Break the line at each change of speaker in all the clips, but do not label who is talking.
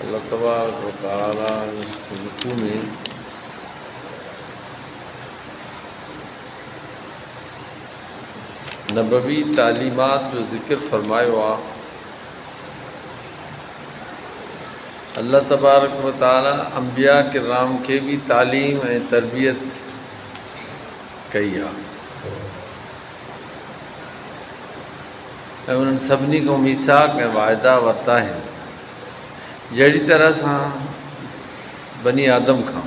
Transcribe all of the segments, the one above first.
الله تبارڪ و تعالي رڪوع ۾ نبوي تعليمات جو ذڪر فرمايو آهي الله تبارڪ و تعاليٰ انبياء ڪرام کي به تعليم ۽ تربيت ڪئي آهي ۽ انهن سڀني کان ميثاق ۽ واعدا ورتا آهن جهڙي طرح سان بني آدم کان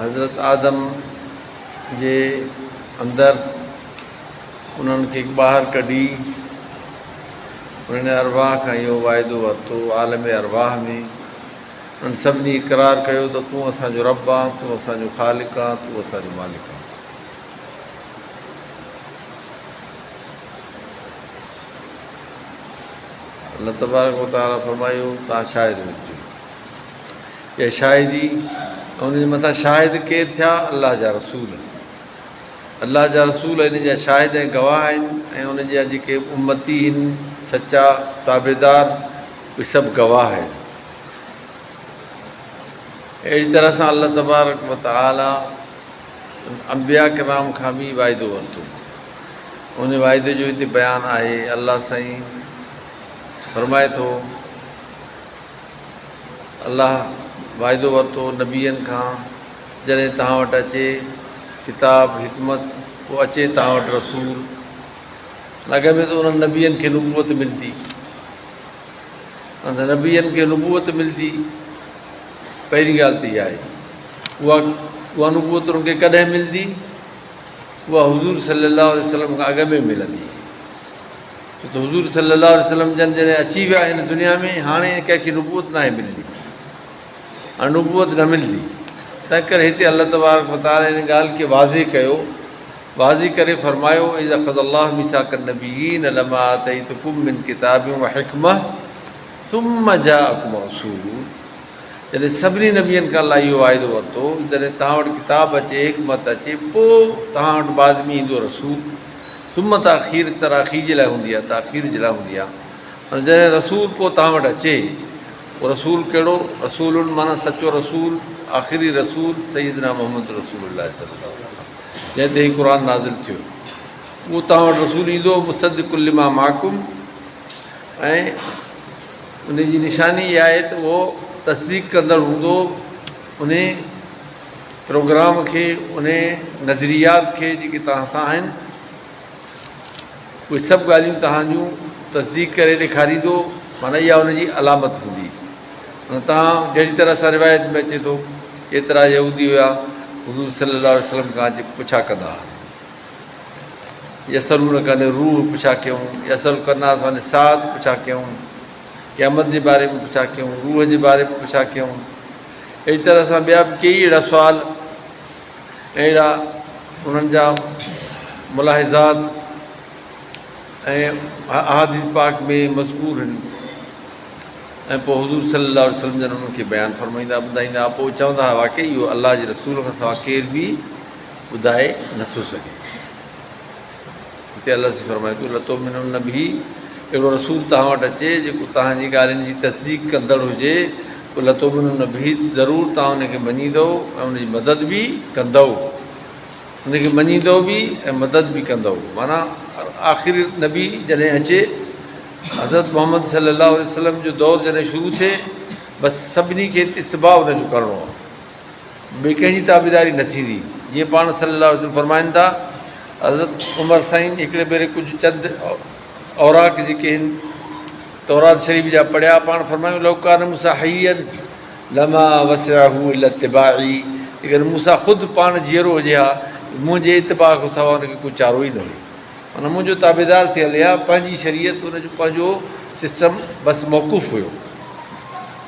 حضرت آدم جي اندر انهن کي ٻاهر ڪڍي انهن ارواح کان اهو واعدو ورتو عالم ارواح ۾ انهن سڀني اقرار ڪيو ته تون اسانجو رب آ تون اسانجو خالق آ تون اسانجو مالڪ آ الله تبارڪ وتعالي فرمايو تان شاهد هججو يا شاهدي ۽ ان جي مٿان شاهد ڪير ٿيا؟ الله جا رسول. الله جا رسول ان جا شاهد ۽ گواهه آهن ۽ ان جا جيڪي امتي هن سچا تابعدار اهي سڀ گواهه آهن. اهڙي طرح سان الله تبارڪ و تعالي انبياء ڪرام کان به واعدو ورتو. ان واعدي جو هتي بيان آهي الله سائين فرمائي ٿو. الله واعدو ورتو نبين کان جڏهن توهان وٽ اچي ڪتاب، حڪمت، پوء اچي توهان وٽ رسول. لڳ ۾ ته انهن نبين کي نبوت ملدي. انهن نبين کي نبوت ملدي پهرين ڳالهه ته اها آهي. اها اها نبوت انهن کي ڪڏهن ملدي؟ اها حضور صلي الله عليه وسلم کان اڳ ۾ ملندي. ڇو ته حضور صلي الله عليه وسلم جن جڏهن اچي ويا هن دنيا ۾ هاڻي ڪنهن کي نبوت ناهي ملندي هاڻي نبوت نه ملندي تنهن ڪري هتي الله تبارڪ وتعالي ان ڳالهه کي واضح ڪيو واضح ڪري فرمايو اذ اخذ الله ميثاق النبيين لما اتيتكم من كتاب وحكمه ثم جاءكم رسول جڏهن سڀني نبيين کان الله اهو واعدو ورتو جڏهن توهان وٽ ڪتاب اچي حڪمت اچي پوء توهان وٽ بعد ۾ ايندو رسول ثم تاخير تراخي جي لاء هوندي آهي، تاخير جي لاء هوندي آهي. معنيٰ جڏهن رسول ڪو توهان وٽ اچي، اهو رسول ڪهڙو؟ رسول معنيٰ سچو رسول، آخري رسول سيدنا محمد رسول الله صلي الله عليه وسلم جنهن تي هي قرآن نازل ٿيو. اهو توهان وٽ رسول ايندو مصدق لما معکم ۽ ان جي نشاني اها آهي ته اهو تصديق ڪندڙ هوندو انهي پروگرام کي انهي نظريات کي جيڪي توهان سان آهن اهي سڀ ڳالهيون توهان جون تصديق ڪري ڏيکاريندو معنيٰ اها ان جي علامت هوندي معنيٰ توهان جهڙي طرح سان روايت ۾ اچي ٿو ايترا يهودي هيا حضور صلي الله عليه وسلم کان اچي پڇا ڪندا هئا يسلون ڪن روح پڇا ڪيون يسل ڪناس معنيٰ سعد پڇا ڪيون قيامت جي باري ۾ پڇا ڪيون روح جي باري ۾ پڇا ڪيون اهڙي طرح سان ٻيا به ڪيئي اهڙا سوال ۽ اهڙا انهن جا ملاحظات ۽ احاديث پاڪ ۾ مذڪور آهن ۽ پوء حضور صلي الله عليه وسلم جن انهن کي بيان فرمائيندا ٻڌائيندا هئا پوء چوندا هئا واقعي اهو الله جي رسول کان سواء ڪير به ٻڌائي نٿو سگهي هتي الله سي فرمائي ٿو، لتؤمنن به، اهڙو رسول توهان وٽ اچي جيڪو توهان جي ڳالهين جي تصديق ڪندڙ هجي پوء لتؤمنن به، ضرور توهان ان کي مڃيندؤ ۽ ان جي مدد به ڪندؤ. ان کي مڃيندؤ به ۽ مدد به ڪندؤ معنيٰ آخري نبي جڏهن اچي، حضرت محمد صلي الله عليه وسلم جو دور جڏهن شروع ٿئي، بس سڀني کي اتباع ان جو ڪرڻو آهي. ٻئي ڪنهن جي تابعداري نه ٿيندي، جيئن پاڻ صلّي اللّٰه عليه وسلّم فرمائن ٿا، حضرت عمر سائين هڪڙي ڀيري ڪجهه چند اوراق جيڪي هن تورات شريف جا پڙهيا، پاڻ فرمايو، لو ڪان موسٰي حيّا لما وسعه الا اتباعي، جيڪڏهن موسٰي خود پاڻ جيئرو هجي ها، منهنجي اتباع کان سواء ان کي ڪو چارو ئي نه هيو. معنيٰ منهنجو تابعدار ٿي هلي ها، پنهنجي شريعت، ان جو پنهنجو سسٽم بس موقوف هيو.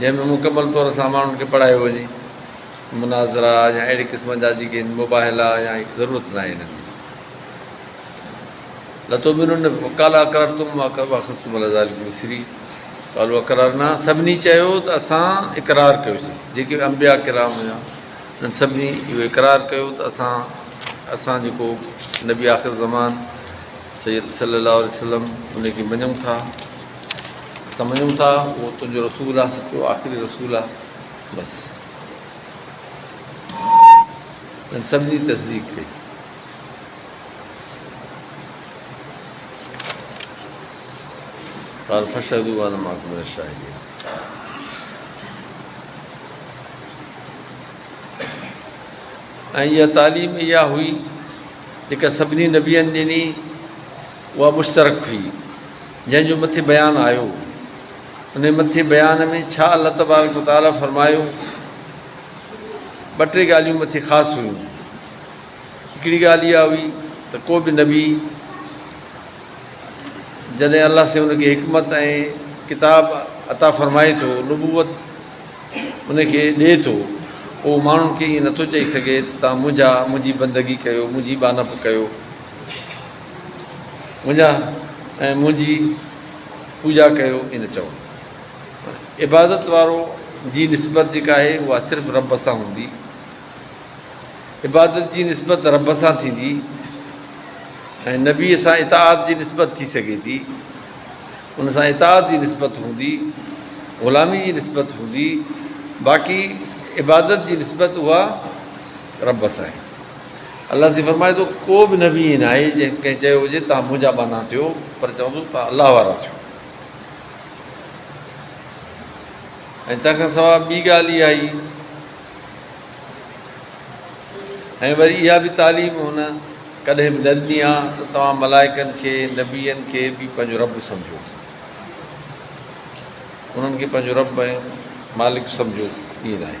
جنهن ۾ مڪمل طور سان ماڻهن کي پڙهايو وڃي. مناظرا يا اهڙي قسم جا جيڪي هن مباهلا يا ضرورت ناهي انهن جي. لتؤمنن قال اقررتم واخذتم علي ذلکم اصري قالوا اقررنا سڀني چيو ته اسان اقرار ڪيوسين جيڪي انبياء ڪرام هيا انهن سڀني اهو اقرار ڪيو ته اسان اسان جيڪو نبي آخر زمان سيد صلي الله عليه وسلم ان کي مڃون ٿا سمجهون ٿا اهو تنهنجو رسول آهي سچو آخري رسول آهي بس ان سڀني تصديق ڪئي قال فشهدوا وانا معكم من الشاهدين ۽ اها تعليم اها هئي جيڪا سڀني نبيين ڏني اها مشترڪ هئي جنهن جو مٿي بيان آيو، انهي مٿي بيان ۾ ڇا الله تبارڪ و تعالي فرمايو؟ ٻه ٽي ڳالهيون مٿي خاص هيون. هڪڙي ڳالهه اها هئي ته ڪو به نبي جڏهن الله سائين ان کي حڪمت ۽ ڪتاب عطا فرمائي ٿو، نبوت ان کي ڏئي ٿو، پوء هو ماڻهن کي ائين نٿو چئي سگهي ته توهان منهنجا، منهنجي بندگي ڪيو، منهنجي ٻانهپ ڪيو. وڃان ۽ منهنجي پوڄا ڪيو ان چوڻ راء عبادت وارو جي نسبت جيڪا آهي اها صرف رب سان هوندي عبادت جي نسبت رب سان ٿيندي ۽ نبي سان اطاعت جي نسبت ٿي سگهي ٿي ان سان اطاعت جي نسبت هوندي غلامي جي نسبت هوندي باقي عبادت جي نسبت اها رب سان آهي الله سين فرمائي ٿو، ڪو به نبي ائين ناهي جنهن ڪنهن چيو هجي توهان منهنجا ٻانها ٿيو، پر چوندو توهان الله وارا ٿيو. ۽ تنهن کان سواء ٻي ڳالهه اها ئي ۽ وري اها به تعليم هن ڪڏهن به نه ڏني آهي ته توهان ملائڪن کي، نبين کي به پنهنجو رب سمجهو. انهن کي پنهنجو رب ۽ مالڪ سمجهو، ائين ناهي.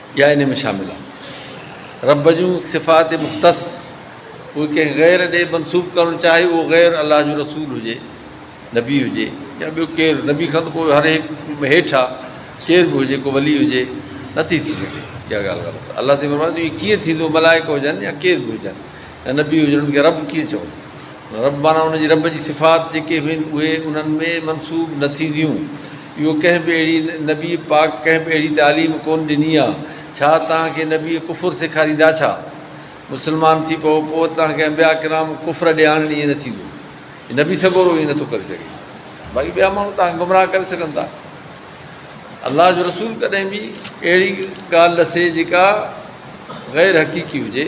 يا انهي ۾ شامل آهن. رب جون صفات مختص اهي ڪنهن غير ڏي منسوب ڪرڻ چاهي اهو غير الله جو رسول هجي، نبي هجي يا ٻيو ڪير، نبي کان ته پوء هر هڪ هيٺ آ ڪير به هجي ڪو ولي هجي نٿي ٿي سگهي اها ڳالهه غلط آ الله سائين فرمائن ٿو ايئن ڪيئن ٿيندو ملائڪ هجن يا ڪير به هجن. ته نبي هجڻ انهن کي رب ڪيئن چوندو؟ رب معنيٰ ان جي رب جي صفات جيڪي به آهن اهي انهن ۾ منسوب نه ٿينديون. اهو ڪنهن به اهڙي نبي پاڪ ڪنهن به اهڙي تعليم ڪونه ڏني آهي. ڇا توهان کي نبي ڪفر سيکاريندا ڇا؟ مسلمان ٿي پئو پوء وري توهان کي انبياء ڪرام ڪفر ڏي آڻن ائين نه ٿيندو. نبي سڳورو ائين نه ٿو ڪري سگهي. باقي ٻيا ماڻهو توهان کي گمراهه ڪري سگهن ٿا. الله جو رسول ڪڏهن به اهڙي ڳالهه نه سي جيڪا غير حقيقي هجي.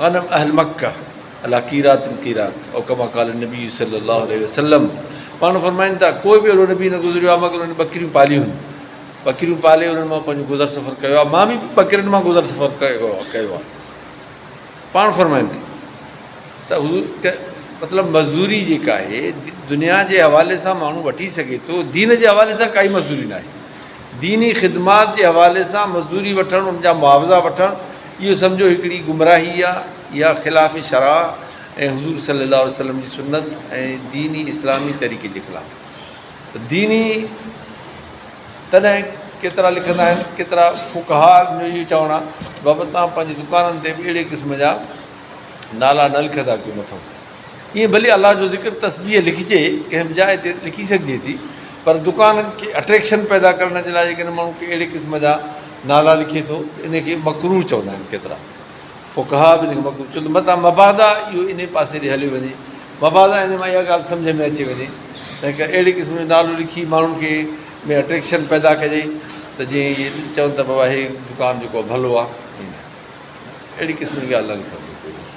غنم اهل مڪه علی قيرات قيرات او ڪما قال النبي صلّي الله عليه وسلّم پاڻ فرمائن ٿا، ڪو به اهڙو نبي نه گذريو آهي مگر انهن ٻڪريون پاليون هيون، ٻڪريون پالي انهن مان پنهنجو گذر سفر ڪيو آهي، مان به ٻڪرين مان گذر سفر ڪيو آهي. پاڻ فرمائن ٿا ته حضور مطلب مزدوري جيڪا آهي دنيا جي حوالي سان ماڻهو وٺي سگهي ٿو دين جي حوالي سان ڪائي مزدوري ناهي ديني خدمات جي حوالي سان مزدوري وٺڻ ان جا معاوضا وٺڻ اهو سمجهو هڪڙي گمراهي آ، اها خلاف شرع ۽ حضور صلي الله عليه وسلم جي سنت ۽ دين اسلامي طريقي جي خلاف آ ته ديني تڏهن ڪيترا لکندا آهن ڪيترا فقهاء جو اهو چوڻ آ بابا توهان پنهنجي دڪانن تي به اهڙي قسم جا نالا نه لکندا ڪيو مٿو ائين ڀلي الله جو ذڪر تسبيح لکجي ڪنهن به جاء تي لکي سگهجي ٿي پر دڪانن کي اٽريڪشن پيدا ڪرڻ جي لاء جيڪڏهن ماڻهو ڪي اهڙي قسم جا نالا لکي ٿو ته ان کي مڪروه چوندا آهن ڪيترا فقها به ان کي مڪروه چون ٿا متان مبادا اهو انهي پاسي ڏي هليو وڃي مبادا ان مان اها ڳالهه سمجهه ۾ اچي وڃي ته هڪ اهڙي قسم جو نالو لکي ماڻهن کي ۾ اٽريڪشن پيدا ڪجي ته جيئن اهي چون ته بابا هي دڪان جيڪو ڀلو آهي اهڙي قسم جي ڳالهه نه لکڻ گهرجي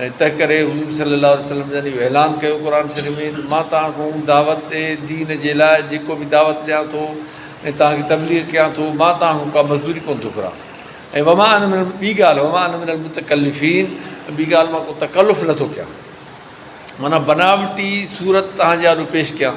۽ تنهنڪري حضور صلي الله عليه وسلم جن اهو اعلان ڪيو قرآن شريف ۾ ته مان توهان کي ان دعوت ڏي دين جي لاء جيڪو به دعوت ڏيان ٿو ۽ توهان کي تبليغ ڪيان ٿو مان توهان کان ڪا مزدوري ڪونه ٿو گهران ۽ وما انا من ٻي ڳالهه وما انا من المتڪلفين ٻي ڳالهه مان ڪو تڪلف نٿو ڪيان معنيٰ بناوٽي صورت توهان جي آڏو پيش ڪيان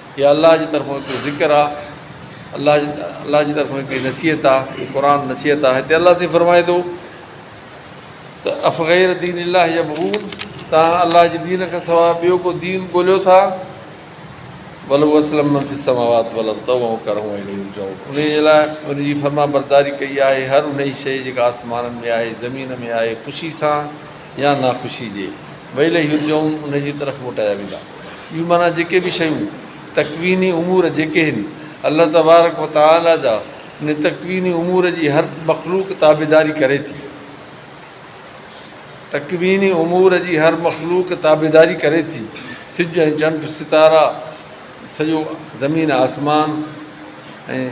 هي الله جي طرفون هڪڙو ذڪر آ الله جي الله جي طرفون هڪڙي نصيحت آ هي قرآن نصيحت آ هتي الله سائين فرمائي ٿو ته افغير دين الله يبغون تان الله جي دين کان سواء ٻيو ڪو دين ڳوليو ٿا ولو اسلم من في السماوات والارض تو هو ڪرون ۽ ليون جو ان جي لاء ان جي فرما برداري ڪئي آهي هر انهي شيء جيڪا آسمانن ۾ آهي زمين ۾ آهي خوشي سان يا ناخوشي جي ويل هي رجوعون انهي جي طرف موٽايا ويندا. اهو معنيٰ جيڪي به شيون، تڪويني امور جيڪي هن، الله تبارڪ و تعالي جا انهي تڪويني امور جي هر مخلوق تابعداري ڪري ٿي. تڪويني امور جي هر مخلوق تابعداري ڪري ٿي، سج ۽ چنڊ، ستارا، سڄو زمين آسمان ۽.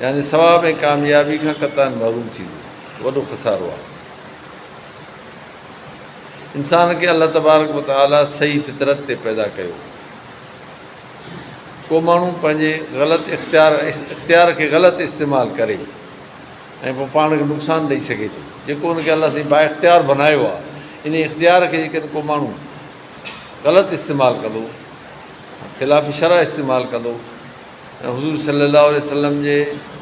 يعني ثواب ۽ ڪاميابي کان قطعاً محروم ٿيندو ته وڏو خسارو آهي. انسان کي الله تبارڪ و تعاليٰ صحيح فطرت تي پيدا ڪيو. ڪو ماڻهو پنهنجي غلط اختيار اختيار کي غلط استعمال ڪري ۽ پوء پاڻ کي نقصان ڏئي سگهي ٿو جيڪو ان کي الله سائين با اختيار بنايو آهي ان اختيار کي جيڪڏهن ڪو ماڻهو غلط استعمال ڪندو خلاف شرح استعمال ڪندو حضور صلي الله عليه وسلم جي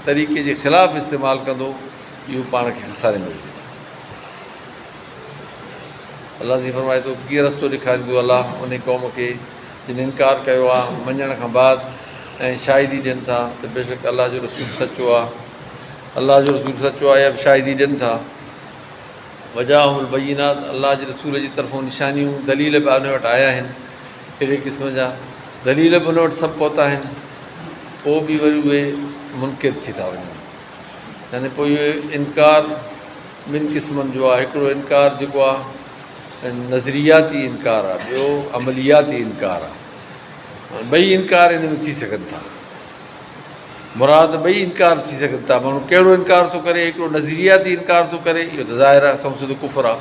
طريقي جي خلاف استعمال ڪندو اهو پاڻ کي خساري ۾ وجهي ٿو الله جي فرمائي ٿو ڪيئن رستو ڏيکاريندو الله ان قوم کي جن انڪار ڪيو آ مڃڻ کان بعد ۽ شاهدي ڏين ٿا ته بيشڪ الله جو رسول سچو آ الله جو رسول سچو آ اهي شاهدي ڏين ٿا وجاهم البينات الله جي رسول جي طرفون نشانيون دليل به ان وٽ آيا آهن اهڙي قسم جا دليل به ان وٽ سڀ پهتا آهن، پوء به وري اهي منڪر ٿي ٿا وڃن. يعني پوء اهو انڪار ٻن قسمن جو آهي، هڪڙو انڪار جيڪو آهي نظرياتي انڪار آهي، ٻيو عملياتي انڪار آهي. ٻئي انڪار ان ۾ ٿي سگهن ٿا. مراد ٻئي انڪار ٿي سگهن ٿا. ماڻهو ڪهڙو انڪار ٿو ڪري، هڪڙو نظرياتي انڪار ٿو ڪري، اهو ته ظاهر آهي سنئون سڌو ڪفر آهي.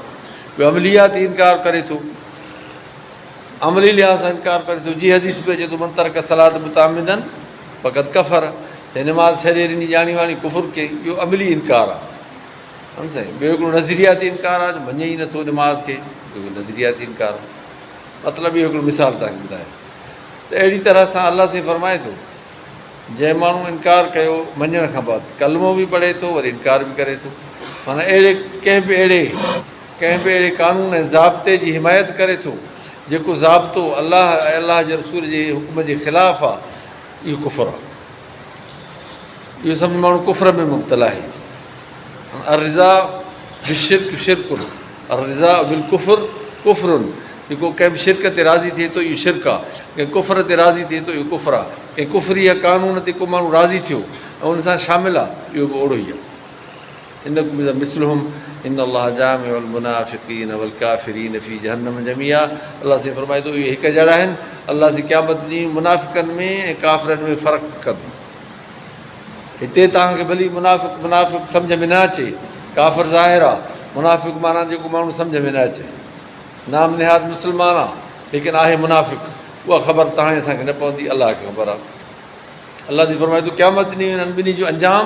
ٻيو عملياتي انڪار ڪري ٿو. عملي لحاظ سان انڪار ڪري ٿو، جي حديث ۾ به اچي ٿو من ترڪ الصلاة متعمدا فقد ڪفر، جنهن نماز ڇڏي ڏني ڄاڻي واڻي ڪفر ڪيائين، اهو عملي انڪار آهي. ها سائين، ٻيو هڪڙو نظرياتي انڪار آهي جو مڃي ئي نه ٿو نماز کي، اهو به نظرياتي انڪار آهي. مطلب اهو هڪڙو مثال توهان کي ٻڌايو ته اهڙي طرح سان الله سائين فرمائي ٿو، جنهن ماڻهو انڪار ڪيو مڃڻ کان بعد، ڪلمو به پڙهي ٿو وري انڪار به ڪري ٿو، معنيٰ اهڙي ڪنهن به اهڙي ڪنهن به اهڙي قانون ۽ ضابطي جي حمايت ڪري ٿو، جيڪو ضابطو الله ۽ الله جي رسول جي حڪم جي خلاف آ، اهو ڪفر آ. اهو سمجهي ماڻهو ڪفر ۾ مبتلا آهي. الرضا بالشرڪ شرڪ، الرضا بالڪفر ڪفر، جيڪو ڪنهن به شرڪ تي راضي ٿئي ٿو، اهو شرڪ آ، ڪنهن ڪفر تي راضي ٿئي ٿو، اهو ڪفر آ، ڪنهن ڪفري يا قانون تي ڪو ماڻهو راضي ٿيو ۽ ان سان شامل آ، اهو به اوڙو ئي آ. انڪم اذا مثلهم ان الله جامع المنافقين والڪافرين في جهنم جميعا الله سائين فرمائي ٿو اهي هڪ جهڙا آهن الله سائين قيامت ڏينهن منافقن ۾ ۽ ڪافرن ۾ فرق ڪندو هتي توهان کي ڀلي منافق منافق سمجھ ۾ نه اچي ڪافر ظاهر آ منافق معنيٰ جيڪو ماڻهو سمجھ ۾ نه اچي نام نهاد مسلمان آ ليڪن آهي منافق اها خبر توهان اسان کي نه پوندي الله کي خبر آ الله جي فرمائي ٿو قيامت ڏينهن انهن ٻنهي جو انجام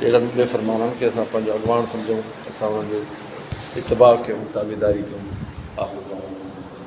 اهڙن بي فرمانن کي اسان پنهنجو اڳواڻ سمجهون، اسان انهن جو اتباع ڪيون، تابعداري ڪيون. آخر دعوانا ان الحمدلله.